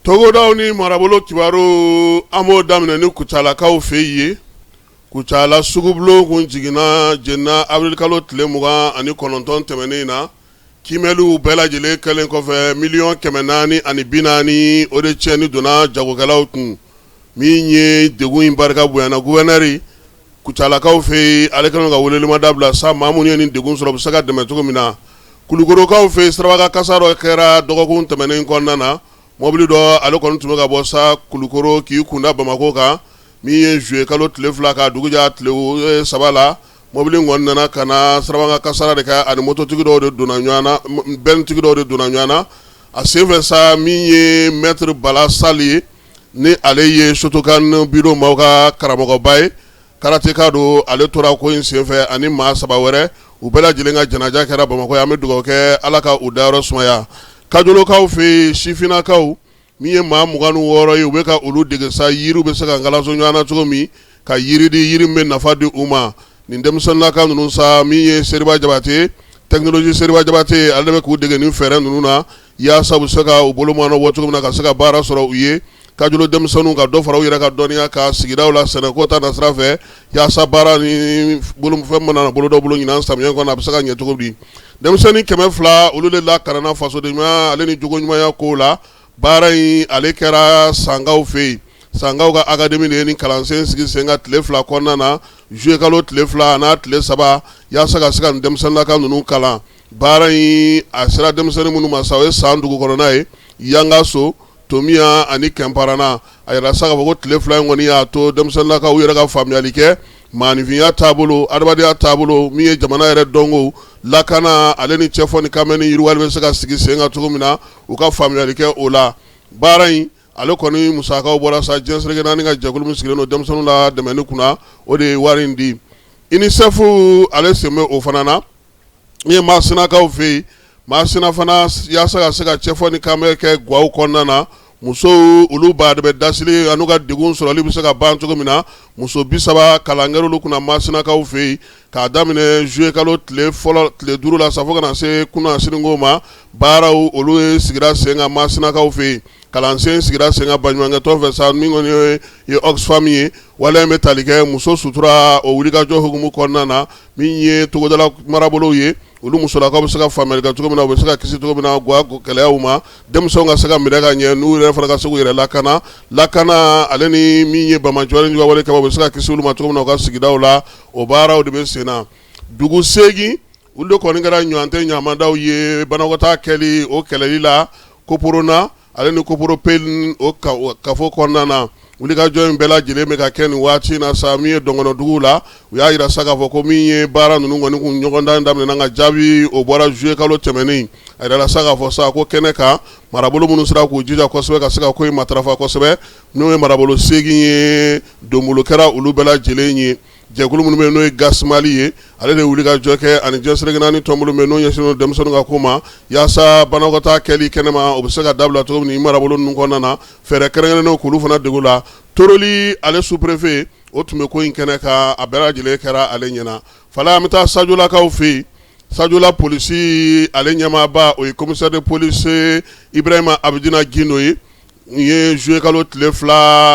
togodaw ni marabolo kibaru an b'o daminɛ ni kucalakaw fɛ yen kucala sugubulon kun jiginna jeninna abirilikalo tile mugan ani kɔnɔntɔn tɛmɛnen in na kimɛliw bɛɛ lajɛlen kɛlen kɔfɛ miliyɔn kɛmɛ naani ani bi naani o de tiɲɛni donna jagokɛlaw kun min ye degun in barika bonyana guvɛrinɛri kucalakaw fɛ yen ale kɛlen ka welelima da bila sa maa minnu ye nin degun sɔrɔ u bɛ se ka dɛmɛ cogo min na, Kulukorokaw fɛ yen sirabakan kasara dɔ kɛra dɔgɔkun tɛmɛnen kɔnɔna na, mɔbili dɔ ale kɔni tun bɛ ka bɔ sa Kulukoro k'i kunda Bamakɔ kan, min ye juillet kalo tile fila k'a dugu jɛ a tile saba la, mɔbili in kɔni nana ka na sirabakan kasara de kɛ ani mototigi dɔw de donna ɲɔgɔn na, bɛnitigi dɔw de donna ɲɔgɔn na a senfɛ sa min ye maitre Bala Sali ye. ni ale ye sotokan biro maaw ka karamɔgɔba ye karateka don ale tora ko in senfɛ ani maa saba wɛrɛ u bɛɛ lajɛlen ka janaja kɛra bamakɔ an bɛ dugawu kɛ ala ka u dayɔrɔ sumaya kajolokaw fɛ sifinnakaw min ye maa mugan ni wɔɔrɔ ye u bɛ ka olu dege sa yiriw bɛ se ka kalanso ɲɔgɔn na cogo min ka yiriden yiri bɛ nafa di u ma nin denmisɛnninlaka ninnu sa min ye seriba jabate tɛkinɔlɔji seriba jabate ale bɛ k'u dege nin fɛɛrɛ ninnu na yaasa u bɛ se ka u bolo mɔɔnɔ bɔ cogo min na ka se ka baara sɔrɔ u ye kajolo denmisɛnninw ka dɔ fara u yɛrɛ ka dɔnniya kan sigidaw la sɛnɛko ta nasira fɛ yaasa baara ni bolofɛn mana bolo dɔ bolo ɲin samiyɛ kɔnɔ a bɛ se ka ɲɛ cogo di denmisɛnnin kɛmɛ fila olu de lakalanna fasoden ɲuman ale ni jogo ɲumanya ko la baara in ale kɛra sankaw fɛ yen sankaw ka akademi de ye ni kalansen sigi sen kan tile fila kɔnɔna na zuye kalo tile fila n'a tile saba yaasa ka se ka denmisɛnninlaka ninnu kalan Baara in a sera denmisɛnnin minnu ma sa o ye san dugu kɔnɔna ye yangaso tomiya ani kɛnparana a yirala sa ka fɔ ko tile fila in kɔni y'a to denmisɛnninlakaw yɛrɛ ka faamuyali kɛ maaninfinya taabolo adamadenya taabolo min ye jamana yɛrɛ dɔnkow lakana ale ni cɛfɔ ni kanbɛn yiriwali bɛ se ka sigi sen kan cogo min na u ka faamuyali kɛ o la baara in ale kɔni musakaw bɔra sa diɲɛ seleke naani ka jɛkulu min sigilen don denmisɛnninw ladɛmɛni kunna o de ye wari in di Unisɛfu ale sen bɛ o fana na Min ye masinakaw fɛ yen masina fana yaasa ka se ka cɛfɔ ni kanbɛn kɛ gaw kɔnɔna na muso olu ba de bɛ dasili n'u ka degun sɔrɔli bɛ se ka ban cogo min na muso bi saba kalan kɛra olu kunna masinakaw fɛ yen k'a daminɛ zuye kalo tile duuru la sa fo ka na se kunasinin ma baaraw olu ye sigira sen kan masinakaw fɛ yen kalansen sigira sen kan baɲumankɛtɔn fɛ sa min kɔni ye Oxfam ye wale bɛ tali kɛ muso sutura o wulikajɔ hukumu kɔnɔna na min ye togodala marabolow ye olu musolakaw bɛ se ka faamuyali kɛ cogo min na, u bɛ se ka kisi cogo min na ga ko gɛlɛyaw ma, denmisɛnw ka se ka minɛ ka ɲɛ, n'u yɛrɛ fana ka se k'u yɛrɛ lakana, lakana ale ni min ye bama cɔyi ni wale kama, u bɛ se ka kisi olu ma cogo min na u ka sigidaw la, o baaraw de bɛ sen na dugu seegin olu de kɔni kɛra ɲɔgɔntɛ ɲamadaw ye banakɔtaa kɛli o kɛlɛli la Koporona. Ale ni Koporo Pe o kafo kɔnɔna na wulikajɔ in bɛɛ lajɛlen bɛ ka kɛ nin waati in na sa min ye Dɔgɔnɔdugu la u y'a jira sa k'a fɔ ko min ye baara ninnu kɔni kun ɲɔgɔndan daminɛna ka jaabi o bɔra zuye kalo tɛmɛnen a jirala sa k'a fɔ sa ko kɛnɛ kan marabolo minnu sera k'u jija kosɛbɛ ka se ka ko in matarafa kosɛbɛ n'o ye marabolo seegin ye donbolo kɛra olu bɛɛ lajɛlen ye Jɛkulu minnu bɛ n'o ye Gasi Mali ye ale de wulikajɔ kɛ ani diɲɛ seleke naani tɔnbolo bɛ n'o ɲɛsinnen don denmisɛnninw ka ko ma yaasa banakɔtaa kɛli kɛnɛma o bɛ se ka dabila cogo min marabolo ninnu kɔnɔna na fɛɛrɛ kɛrɛnkɛrɛnnen k'olu fana dege la Toroli ale sous-préfet o tun bɛ ko in kɛnɛ kan a bɛɛ lajɛlen kɛra ale ɲɛna fala an bɛ taa Sajolakaw fɛ yen Sajola polisi ale ɲɛmaaba o ye commissaire de police Ibrahima Abidina Gindo ye Nin ye zuye kalo tile 2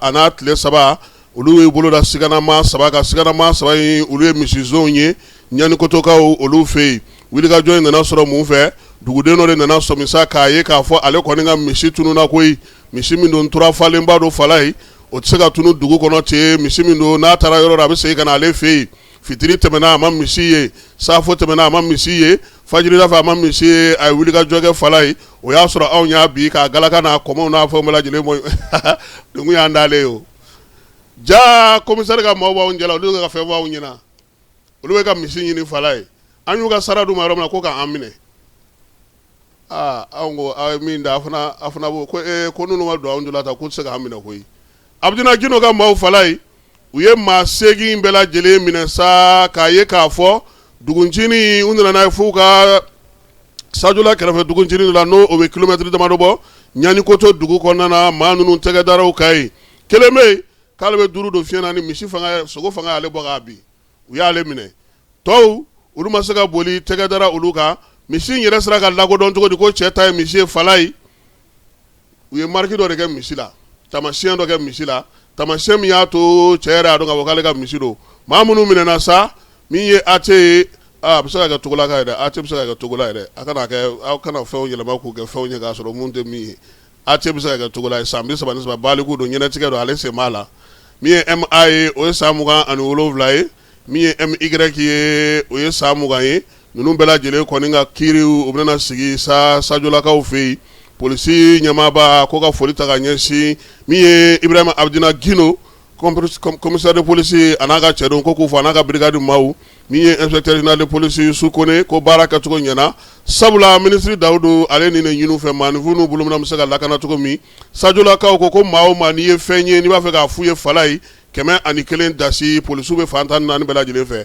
a n'a tile 3 olu y'u bolo da siganama 3 kan siganama 3 in olu ye misizonw ye ɲanikotokaw olu fɛ yen wulikajɔ in nana sɔrɔ mun fɛ duguden dɔ de nana sɔmi sa k'a ye k'a fɔ ale kɔni ka misi tununa koyi misi min don tura falenba don fala ye o tɛ se ka tunu dugu kɔnɔ ten misi min don n'a taara yɔrɔ la a bɛ segin ka na ale fɛ yen fitiri tɛmɛna a ma misi ye safo tɛmɛna a ma misi ye fajiri da fɛ a ma misi ye a ye wulikajɔ kɛ fala ye o y'a sɔrɔ anw y'a bin k'a galaka n'a kɔmɔw n'a fan bɛɛ lajɛlen bɔ dugu y'an dalen ye o ja commissaire ka maaw b'anw jɛ la olu ka fɛn b'anw ɲɛna olu bɛ ka misi ɲini fala ye an y'u ka sara d'u ma yɔrɔ min na ko k'an minɛ anw ko aw ye min da a a fana ko ko ee ko ninnu ma don anw jɔ la ta k'u tɛ se k'an minɛ koyi Abidina Gindo ka maaw fala ye u ye maa seegin bɛɛ lajɛlen minɛ sa k'a ye k'a fɔ duguntinin u nana n'a ye f'u ka Sajola kɛrɛfɛ duguntinin la n'o bɛ kilomɛtiri damadɔ bɔ ɲanikoto dugu kɔnɔna na maa ninnu tɛgɛ dara u kan yen kelen bɛ k'ale bɛ duuru don fiɲɛ na ni misi sogo fanga y'ale bɔ k'a bin u y'ale minɛ tɔw olu ma se ka boli tɛgɛ dara olu kan misi yɛrɛ sera ka lakodɔn cogo di ko cɛ ta ye misi ye fala ye u ye mariki dɔ de kɛ misi la taamasiyɛn dɔ kɛ misi la taamasiyɛn min y'a to cɛ yɛrɛ y'a dɔn k'ale ka misi don maa minnu minɛna sa min ye A T ye a bɛ se ka kɛ Togolaka ye dɛ A T bɛ se ka kɛ Togola ye dɛ a kana kɛ aw kana fɛnw yɛlɛma k'u kɛ fɛnw ye k'a sɔrɔ mun tɛ min ye A T bɛ se ka kɛ Togola ye san bi saba ni saba baliku don ɲɛnatigɛ don ale sen b'a la min ye M A ye o ye san mugan ani wolonwula ye min ye M Y ye o ye san mugan ye ninnu bɛɛ lajɛlen kɔni ka kiiri o bɛna sigi sa Sajolakaw fɛ yen polisi ɲɛmaaba a ko ka foli ta ka ɲɛsin min ye Ibrahima Abidina Gindo commissaire de police a n'a ka cɛdenw ko k'u fo a n'a ka brigade maaw min ye inspecteur général de police Su Kone ko baara kɛcogo ɲɛna sabula minisiri Dawudu ale nin de ɲini u fɛ maaninfin n'u bolo minan bɛ se ka lakana cogo min Sajolakaw ko ko maa o maa n'i ye fɛn ye n'i b'a fɛ k'a fɔ u ye fala ye kɛmɛ ani kelen dasi polisiw bɛ fan tan ni naani bɛɛ lajɛlen fɛ